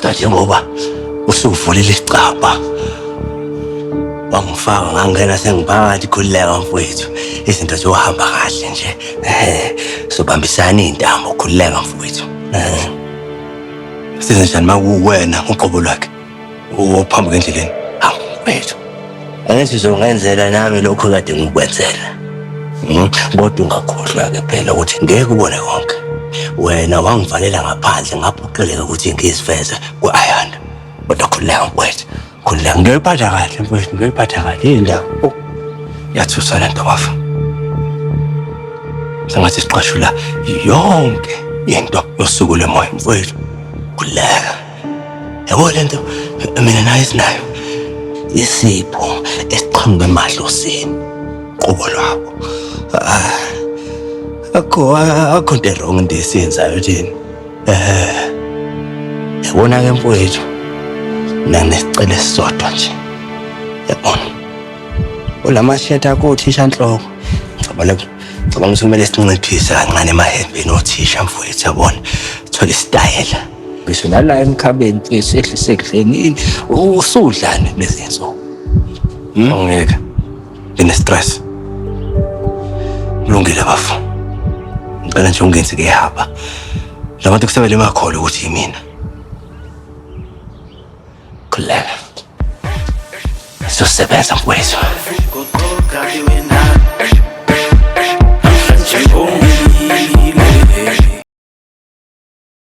Kodwa njengoba usuvulile isicabha wangifaka ngangena sengiphakathi khululeka mfowethu izinto ziyohamba kahle nje sobambisana iy'ntambo khululeka mfowethu size njani uma kuwuwena uqobo lwakhe ophambuka endleleni hawu mfowethu angithi uzongenzela nami lokhu kade ngikwenzela hmm? kodwa ungakhohlwa-ke phela ukuthi ngeke ubone konke wena wangivalela ngaphandle ngaphoqeleka ukuthi ngiziveze ku-ayanda kodwa khululeka mfowethu khululeka ngiyoyiphatha kahle mfowethu ngiyoyiphatha kahle yini la oh, yathusa le nto bafa sengathi siqashula yonke into yosuku lemoya mfowethu khululeka yabo le nto mina nayo esinayo isipho esiqhamuke emadlosini qobo lwabo ah, akho akho nto erong into esiyenzayo thina um eh, yabona ke mfowethu mina nginesicelo esisodwa nje yabona olamashetha akho uthisha nhloko ngicabale ngicabanga ukuthi kumele sinciphise kancane emahembeni othisha mfowethu yabona thole isitayela ngisho nala emkhabeni mfethu ehlise ekudleni usudlani kulezi nsuku hmm? awungeke ngine-stress kulungile bafo ngicela nje ungenzi kuyahamba labantu kusebele emakholo ukuthi yimina khuleka sizosebenza mfowethu